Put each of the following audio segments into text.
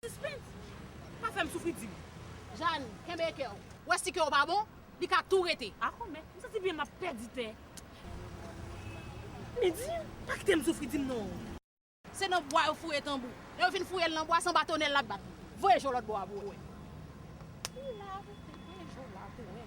Suspens! Pa fèm soufri di m. Jane, kenbe kè w. Ou wè si kè w pa bon, li ka tou rete. Ako men, m santi byen m ap pèdi tè. Men di m, pa kite m soufri di m non. Se nan bwa yo fouye tanbou. Lè yo fin fouye l nan bwa, sanba tonè l l ap bat. Voye je w lòt bò a pou w wè. Li la tou, voye je w la pou w wè.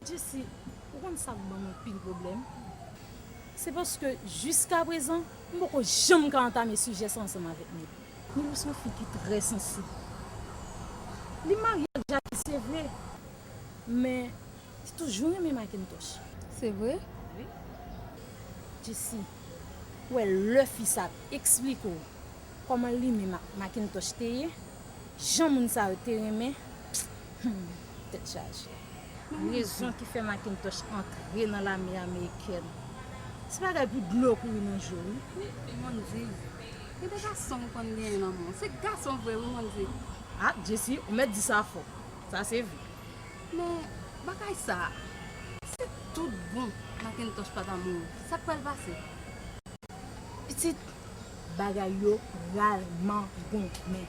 Jesi, ou konn sa k banm anpil pwoblèm? Se paske jiskaprezan, m poko janm ka antame sijè sa ansanm avèk Nil. Nil se yon fi ki trè sansib. Li marye ak Jaki se vre, men li toujou renmen Makentòch. Se vre? Wi. Jesi, ou wè lè fi sa ap esplike w kòman li menm ak Makentòch te ye, jan moun sa yo te renmen, Humm tèt chaje. Rezon ki fè Macintosh antre nan lame amerikèn. Se bagay pou dlo kouri nan je w wi. Humm Mondy. Gen de gason ou konn genyen nan men w. Se gason vre wi Mondy. Ah Jesi ou mèt di sa fò. Sa se vre. Men bagay sa a. Si tout bon Macintosh pa ta mouri. Sa k pral pase. Pitit. Bagay yo pral mangonmen.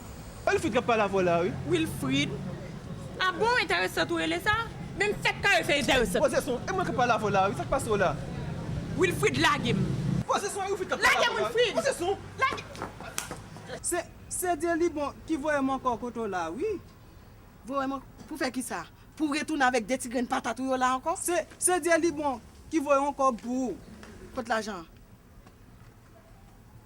Wilfrid kap pale avw la wi. Wilfrid Ah bon enteresant ou rele sa? Menm fèt kare fè enteresant. Poze son E mwen kap pale avw la wi sak pase w la. Wilfrid lage m. Poze son E Wilfrid kap pale avw la wi. Poze son. Se Cedie li bon ki voye m ankò kote w la wi. Voye m ankò pou fè kisa? Pou w retounen avèk 2 ti grenn patat ou yo la ankò? Se Cedie li bon ki voye w ankò pou. Kot lajan an?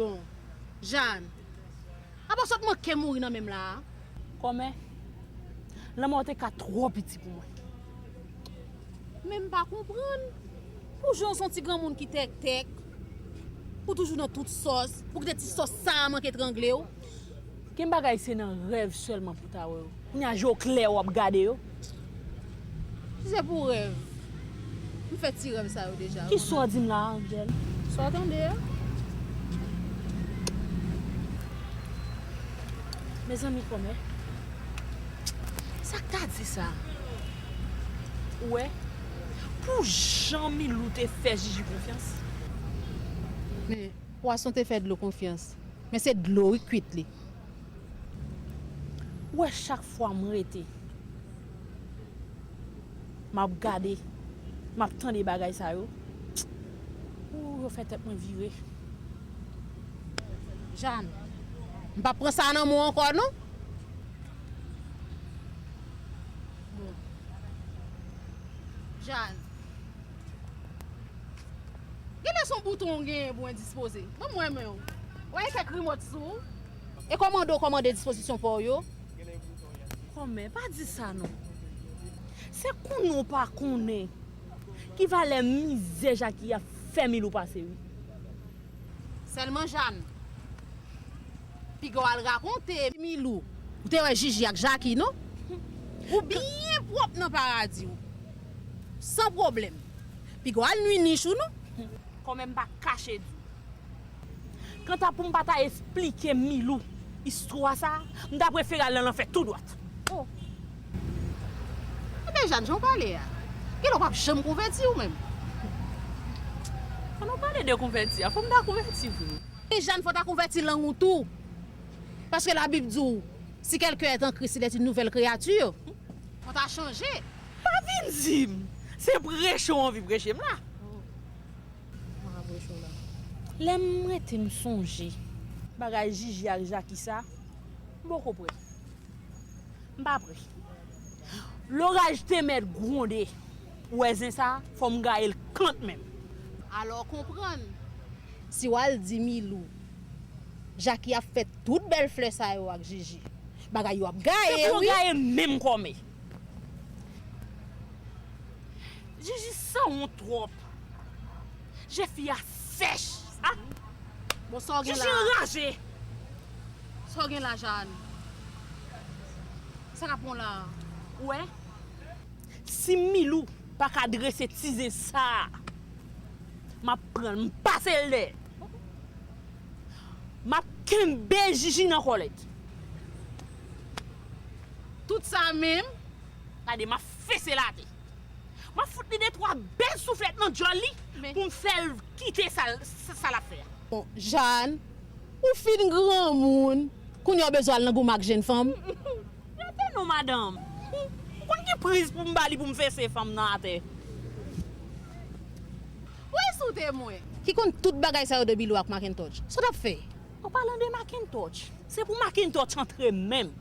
Bon. Jaan. Apa sot manke mouri nan menm la a. Kòmè. Lanmò te ka twò piti pou mwen. Men m pa konprann. Pou jan w son ti granmoun ki tèktèk. Pou toujou nan tout sòs. Pou kite ti sòs sa a manke trangle w. Ken bagay se nan rèv sèlman pou ta wè yo. Kounya je w klè wap gade yo. Si se pou rèv. M fè ti rèv sa yo deja. Ki sa w di m la Angel? Sa w tande a. Mezanmi kòmè. Sak ta di sa. Ou wè. Pou jan Milou te fè Jiji konfyans. Men pwason te fè dlo konfyans. Men se dlo wi kwit li. Ou wè chak fwa m rete map gade map tande bagay sa yo ooh yo fè tèt mwen vire Jeanne m pap pran sa nan men w ankò non Jeanne. Gen lè son bouton ou genyen pou endispoze. Ban m wè men w. Wè e kèk rimòt sou ou. E kòmande ou kòmande dispozisyon pa w yo. Kòmè, pa di sa non. Se konnen ou pa konnen ki valè mizè Jaki ap fè Milou pase wi. Sèlman Jane. Piga w al rakonte. Milou, ou te wè Jiji ak Jaki non. Ou byen pwòp nan paradi w. San pwoblèm. Piko al nwi niche ou nou. Kòmè m pa k kache di w. Kanta pou m pa ta esplike Milou istwa sa a, m ta prefere al nan lanfè tou dwat. O! Ebyen Jàn, jan w pale a, gen lè w pap janm konvèti ou menm. Pandan w pale de konvèti a, fò m ta konvèti vre. Wi Jàn, fò w ta konvèti lang ou tou. Paske Labib di w, Si quelqu'un est en Christ, il est une nouvelle créature. Fò w ta chanje. Pa vin dim se preche w anvi preche m la. Mwen paka preche w la. Lè m rete m sonje. Bagay Jiji ak Jaki sa. M poko pre. M pa pre. Loraj te mèt gwonde. Ou wè zen sa fò m gaye l kantmenm. Alò konprann. Si w al di Milou. Jaki ap fè tout bèl flè sa yo ak Jiji. Bagay yo ap gaye wi. Se pou yo gaye menm kòmè. Jiji sanwont trop. Je fi a sèch. Bon sa w gen la. Jiji anraje. Sa w gen la Jaan. Sa kap bon la. Ou wè. Si Milou paka drese ti zen sa. Map pranl m pasel dèyè. Map kenbe Jiji nan kòlèt. Tout sa menm. Gade map fese late. Map fout li de twa bel souflet nan djol li poum fel kite sa lap fe a. Bon Jàn, ou fin granmoun, kounye a w bezwen al nan goumen ak jenn fanm? Rete non madanm. Ou konn ki priz pou m ba li pou m fese fanm nan atè. Ou ensoute mwen. Ki konn tout bagay sa yo de Bilou ak Makentòj. Sa w t ap fè? An palan de Macintosh. Se pou Macintosh antre menm.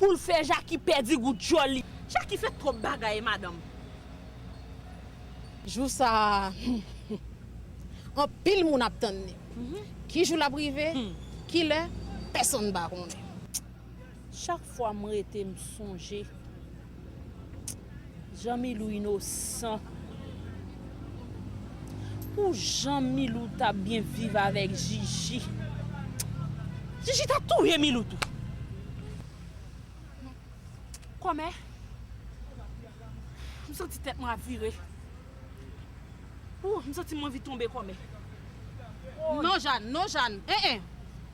Poul fè Jacky pèdi gou dyòl li. Jacky fè twòp bagay madanm. Jou sa humm anpil moun ap tann li. Ki jou lap rive, kilè, pèsonn pa konnen. Chak fwa m rete m sonje Jan milou inosan Pou jan milou ta byen viv avèk jiji Jiji ta touye milou tou Kòmè M santi tèt mwen ap vire Ooh m santi m anvi tonbe kòmè Non Jàn non Jàn eeh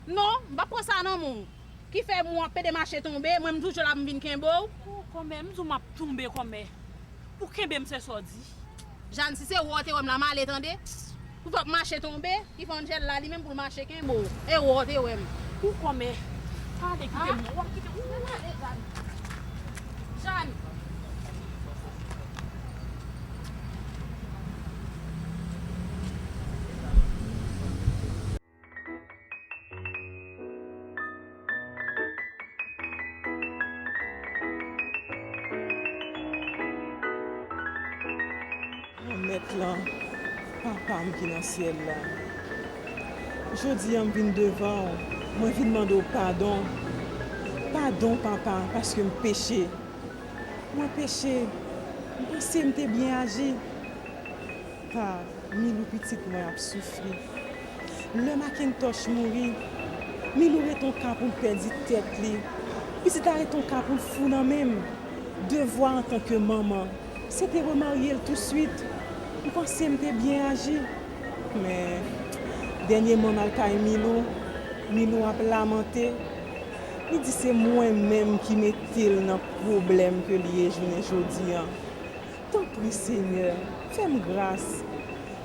non m pap pran sa nan men w. Ki fè mou an pede mache tonbe mwen m toujou la pou m vin kenbe w. Ooh kòmè m di w map tonbe kòmè ou kenbe m se sa w di. Jane si se wè w te wè m la m ale tande. Pou fè w mache tonbe ki fè Angel la li menm pou l mache kenbe w e wè w te wè m. Ooh kòmè pale kite m non wap kite m ooh. Mwen pale Jane. Jane. Mèt lan, Papa m ki nan Syèl la, jodi a m vin devan w, mwen vin mande w padon. Padon, Papa, paske m peche. Mwen peche. M panse m te byen aji. Ha, Milou pitit mwen ap soufri. Lè Makentoch mouri, Milou ret on ka pou l pèdi tèt li. Pitit la ret on ka pou l fou nan men m. Devwa antanke manman, se te remarye l tousuit. M panse m te byen aji. Men, dènyèman m al kay Milou, Milou ap lamante. Li di se mwen menm ki mete l nan pwoblèm ke l ye jounen jodi an. Tanpri Senyè, fè m gras.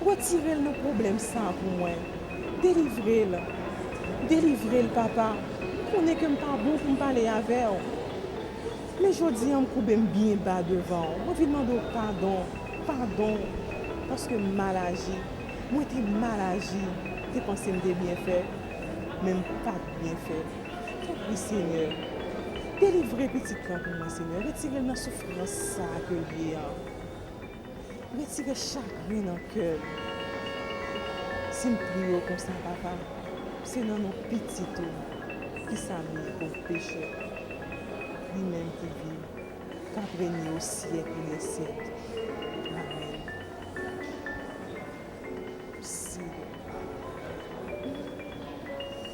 Retire l nan pwoblèm sa a pou mwen. Delivre l. Delivre l, Papa. M konnen ke m pa bon pou m pale avè w. Men jodi a m koube m byen ba devan w. Mwen vin mande w padon. Padon. Paske m mal aji. Mwen te mal aji. M te panse m te byen fè. Men m pa t byen fè. Tanpri Senyè, delivre pitit la pou mwen Senyè, retire l nan soufrans sa ke l ye an, retire chagren nan kè l, si m priye w konsa Papa, se nan non pitit ou ki sa m ye, pov pechè, li menm ki viv, kap renye o syèk ou lè syèk. Amen. Mèsi Senyè.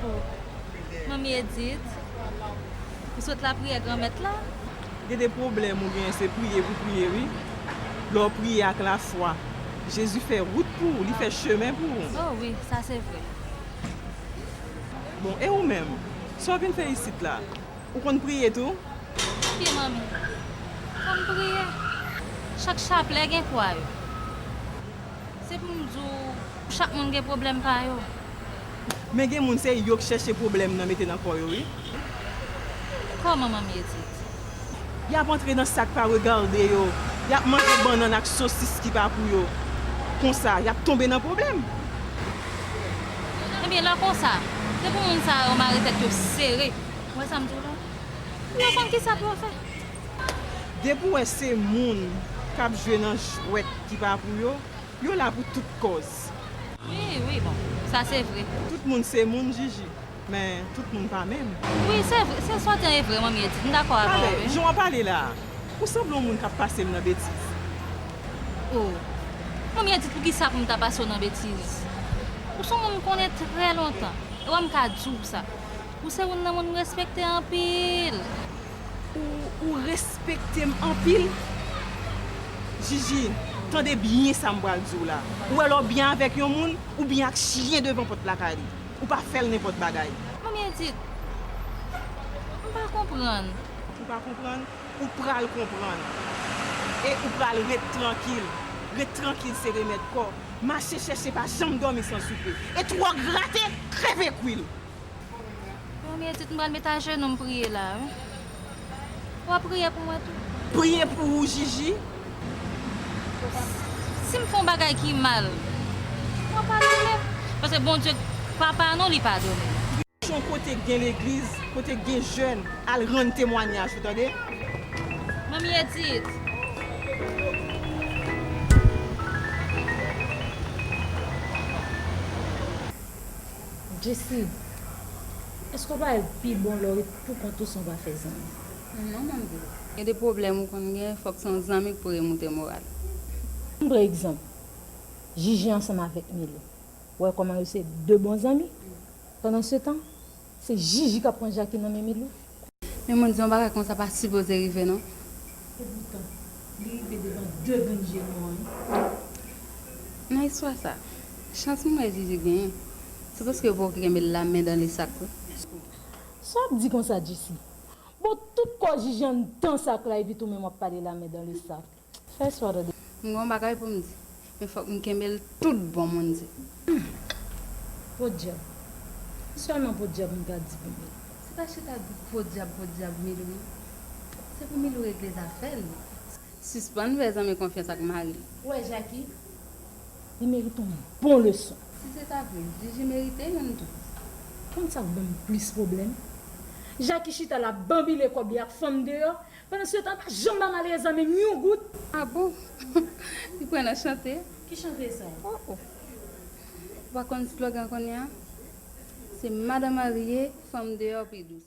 Pou manmi Edit Ou sot lapriyè Granmèt la? Gen de pwoblèm ou genyen se priye pou priye wi lè w priye ak lafwa Jezi fè wout pou ou li fè chemen pou ou. Oh wi sa se vre. Bon e ou menm? Sa w vin fè isit la? Ou konn priye tou? Wi manmi Konn priye. Chak chaplè gen kwa yo. Se pou m di w, chak moun gen pwoblèm pa yo. Men gen moun se yo k chèche pwoblèm nan mete nan kò yo wi. Kòman manmie di t. Y ap antre nan sa k pa regarde yo, y ap manje bannann ak sosis ki pa pou yo. Konsa, y ap tonbe nan pwoblèm. Ebyen lè konsa, se pou moun sa yo mare tèt yo sere. Ou wè sa m di w la? Pou yo konn kisa pou yo fè. Depi w wè se moun k ap jwe nan jwèt ki pa pou yo, yo la pou tout kòz. Wi, wi, bon, sa se vre. Tout moun se moun, Jiji, men tout moun pa menm. Wi, se vre, se sòtàn e vre, Manmi Edit. M dakò avè w, wi. Pale, jan w ap pale la a, ou sanble yon moun k ap pase m nan betiz. O! Manmi Edit, poukisa pou m ta pase w nan betiz? Ou se yon moun m konnen trè lontan, e wè m ka di w sa, ou se youn nan moun m respekte anpil. Ou respekte m anpil. Jiji, tande byen sa m pral di w la. Ou wè lè w byen avèk yon moun, ou byen ak chyen devan pòt lakay li. Ou pa fè l nenpòt bagay. Manmi Edit, m pa konprann. Ou pa konprann? Ou pral konprann. E ou pral ret trankil. Ret trankil se remèd kò. Mache chèche pa janm dòmi san soupe. E twò grate, kreve kwil. Premye tit m pral met ajenou m priye la wi. Ou ap priye pou mwen tou? Priye pou ou Jiji? Si m fè yon bagay ki mal, ou ap padone m? Paske Bondye papa nou li padone. Chèche yon kote k gen legliz, kote k gen jèn, al rann temwanyaj ou tande. Manmi Edit. Jesi, èske w pa wè l pi bon lè w ret poukont ou san w pa fè zanmi? Non Manbo, gen de pwoblèm ou konn gen fòk se yon zanmi k pou remoute moral. Ann pran egzanp, Jiji ansanm avèk Milo. Ou wè kòman yo se de bon zanmi? Pandansetan, se Jiji k ap pran Jaki nan men Milo. Men mwen di yon bagay konsa pa sipoze rive non. Epoutan, li rive devan 2 grenn je nou an wi. Nan istwa sa, chans mwen wè Zuzu genyen, se paske yo poko kenbe l la men dan le sak wi. Sa w ap di konsa Jisi? Bon tout kò Jiji anndan sak la epi tou menm w ap pale la men dan le sak. Fè sa w ta dwe. M gen yon bagay pou m di. Men fòk m kenbe l tout bon moun di. Humm! Podyab! Se sèlman podyab m ta di pou Milou. Se pa chita di podyab podyab Milou non. Se pou Milou regle zafè l. Sispann fè zanmi konfyans ak mari l. Ou wè Jaki? Li merite yon bon leson. Si se ta vre, Jiji merite youn tou. Konn sa k ban m plis pwoblèm? Jaki chita la banbile kòb li ak fanm deyò, Pandan se tan pa janm banm ale zanmi m yon goud. Ah bon li pran nan chante. Ki chante sa? Oh oh ou pa konn slogan konnya se madan marye fanm deyò pi dous.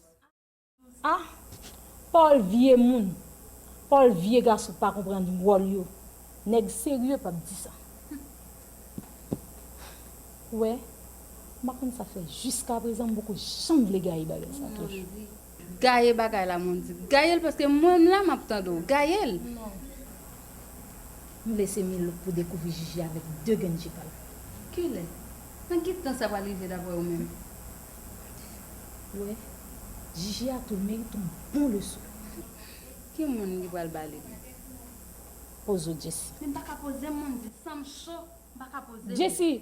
Ah Paul vye moun Paul vye gason pa konprann wòl yo nèg serye pap di sa ou wè m pa konn sa fè jiskaprezan m poko janm vle gaye bagay sa toujou. Gaye bagay la moun di. Gayel paske mwen m la map tande w gayel. Nou lese Milo pou dekouvri Jiji avèk 2 grenn je pal. Kilè? Nan ki tan sa pral rive daprè ou menm? Ou wè, Jiji a tou merit on bon leson. Ki moun li pral ba li? Poze w Jessie. Men m paka poze m moun di sanm cho m paka poze m. Jessie,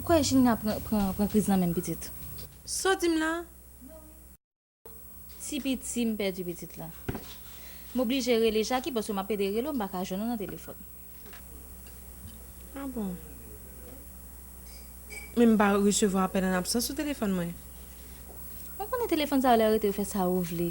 Ou kwè Gina pran kriz nan menm pitit. Saw dim la? Ti piti m pèdi pitit la. M oblije rele Jackie paske map ede rele w m paka jwenn ou nan telefòn. Ah bon. Men m pa resevwa apèl an absans sou telefòn mwen. Mwen konnen telefòn sa yo lè yo rete yo fè sa yo vle.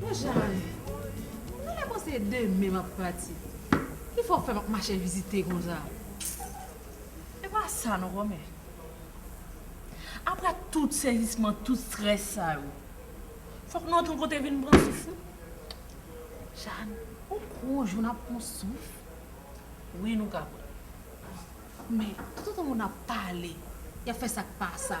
Bon jan ane. Nan lè konsa e demen map pati. Kifè w fè map mache vizite konsa. E pa sa non kòmè. Aprè tout sezisman tout strès sa yo. Fòk nou antre kote vin pran souf nou. Jane, ou kwè on jou nap pran souf? Wi nou ka kwè. Men, tout otan moun ap pale, yap fè sak pa sa.